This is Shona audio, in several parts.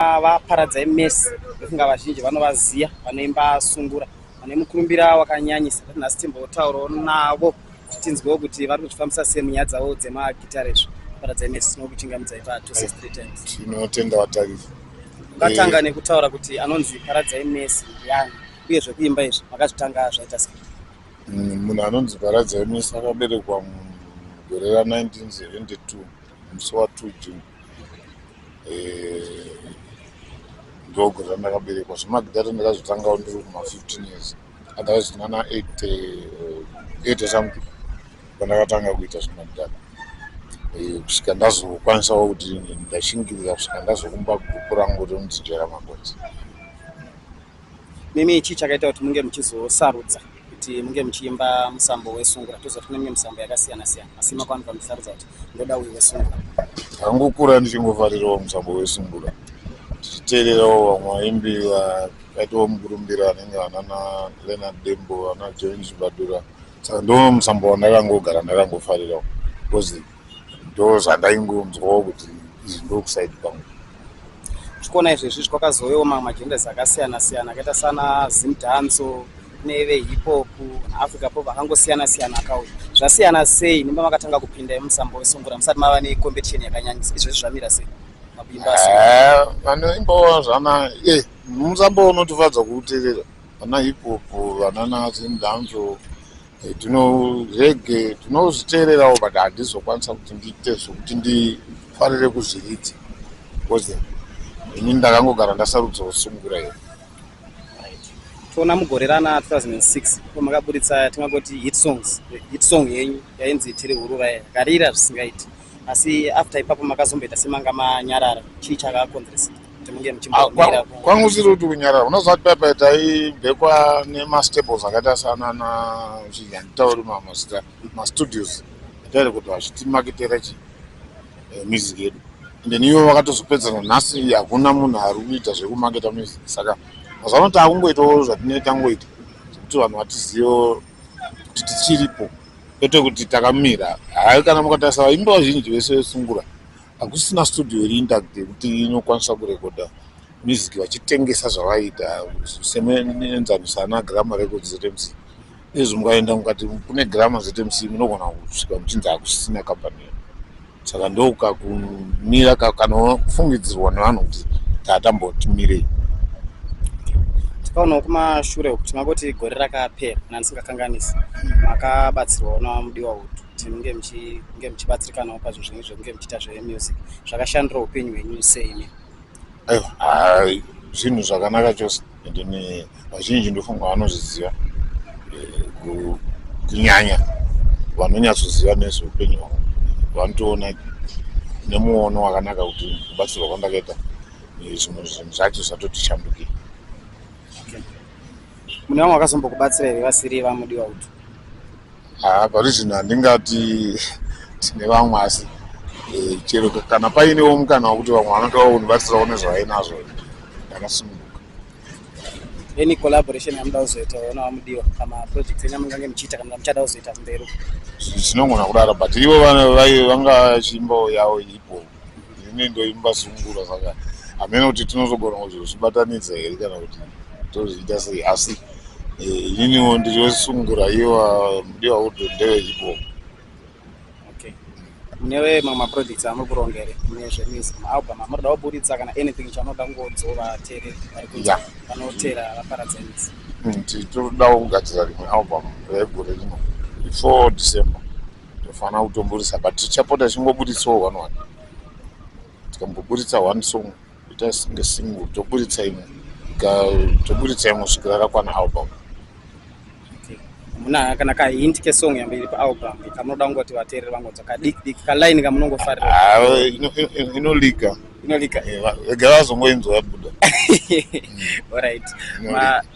vaparadzai mese ndofunga vazhinji vanovaziva vanoimba sungura vane mukurumbira wakanyanyisa ati nhasi timbotaurawo navo tinzwewo kuti vari kuzvifambisa sei munyaya dzavo dzemagitare izvo vaparadzai mese tinokuchingamidza ipa tose street times tinotenda vatariri ungatanga eh. nekutaura kuti anonzi paradzai mese yani uye zvekuimba izvi makazvitanga zvaita sei mm, munhu anonzi paradzai mese akaberekwa mugore ra 1972 musi wa 2 June eh, ndogore randakaberekwa zvemagidhara ndakazvitangawo ndiri kuma 15 years otherwise ndinana 8 something pandakatanga kuita zvemagidhara eh, kusvika ndazokwanisawo kuti ndashingirira kusvika ndazokumba gurupu rangu rinonzi jera makonzi Mimi chii chakaita kuti munge muchizosarudza kuti munge muchiimba musambo wesungura toziva kuti kune mimwe misambo yakasiyana siyana asi makwanikwa muchisarudza kuti ndoda uyu wesungura ndangokura ndichingofarirawo musambo wesungura tichiteererawo vamwe vaimbi vakaitawo mukurumbira anenge anana leonard dembo ana join zvibadura saka ndo musambo wandakangogara ndakangofarirawo because ndozvandaingonzwawo kuti izvi ndokusaidi kwangu zvikona izvezvi zvikwakazouyawo mamwe magendas akasiyana siyana akaita sana zimdanso neve hipop africa pop akangosiyana siyana akauya zvasiyana sei nemba makatanga kupinda musambo wesungura musati mava necompetition yakanyanyisa izvezvi zvamira sei eh, vanoimbawo zvana e musambo unotifadza kuuterera vana hipop vanana zimdanso tinorege tinozviteererawo but handizokwanisa kuti ndiite zvokuti ndifarire kuzviridza bcause ini ndakangogara ndasarudza kusungura iyo toona mugore rana 2006 pamakaburitsa tingangoti hit songs hit song yenyu yainzi tiri hurura yakarira zvisingaiti asi after ipapo makazomboita semanga manyarara chii chakakonzeresa kuti munge muchimbomira ah, kwa, kwangu usiri kuti kunyarara unoziva kuti paipai taibhekwa nemastables akaita sanana chinzi handitauri mamazita mastudios atairi kuti vachitimakitera chi eh, music yedu and then ivo vakatozopedzana nhasi hakuna munhu ari kuita zvekumaketa music saka mazuva ano taakungoitawo zvatinee tangoita zvekuti vanhu vatizivo kuti tichiripo kwete kuti takamira hai kana mukatarisa vaimbi vazhinji vese vesungura Hakusina studio iri intact yekuti inokwanisa kurekodha music vachitengesa zvavaiita semuenzaniso ana Grammar Records ZMC. Izvi mukaenda mukati kune Grammar ZMC munogona kusvika muchinzi hakusisina company iyo. Saka ndoka kumira ka- kanofungidzirwa nevanhu kuti tatamotimirei. tikaonawo kumashure uku tingangoti gore rakapera kana ndisingakanganisi makabatsirwawo namudiwa utu kuti munge muchinge muchibatsirikanawo pazvinhu zvenyu zvekunge muchiita zvemusic zvakashandira upenyu hwenyu seimi aiwa ah, zvinhu zvakanaka chose endeni vazhinji ndofunga vanozviziva eh, kunyanya vanonyatsoziva nezveupenyu hwavo vanotoona nemuono wakanaka kuti kubatsirwa kwandakaita eh, zvimwe zvinhu zvacho zvatoti shandukei mune vamwe vakazombokubatsira here vasiri vamudiwa utu haa parizvino handingati tine vamwe asi eh, chero kana painewo mukana wekuti vamwe vanotoa kundibatsirawo nezvavainazvo ndakasununguka any collaboration yamuda kuzoita ona vamudiwa kana project enyu yamungange muchiita kana muchada kuzoita kumberi zvinongona kudaro but ivo vanga chimbo yavo ipo ini ndoimba sungura saka hameno kuti tinozogona kuzozvibatanidza here kana kuti tozviita sei asi eh, ininiwo ndiri wesungura iwa mudiwa udhu ndewehipop newe mamwe maprojects amuri kuronga here mune zvemusic maalbum amurida kuburitsa kana anything chanoda kungodzova vateereri vari kuita vanoteera vaparadzanis mm, tiri todawo kugadzira rimwe album regore rino before december Tofana kutomburisa but tichapota chingobuditsawo one one. Tikamboburitsa one song ita singe single toburitsa imwe. Ka toburitsa imwe kusvikira rakwana album. Muna kana ka hint ke song yambe iri pa album kamunoda kungoti vateereri vangonzwa ka dik dik ka line kamunongofarira. Ah, ino ino, ino liga. inolika eh, vega vazongoinzwa yabuda orit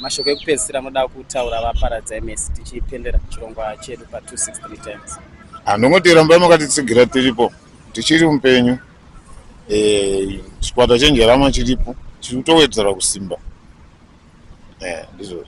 mashoko ekupedzisira anoda kutaura vaparadzai mesi tichipendera chirongwa chedu pa 263 times handongoti ah, rambai makatitsigira tiripo tichiri mupenyu eh, chikwata chenjerama chiripo chiri kutowedzera kusimba eh, ndizvozvo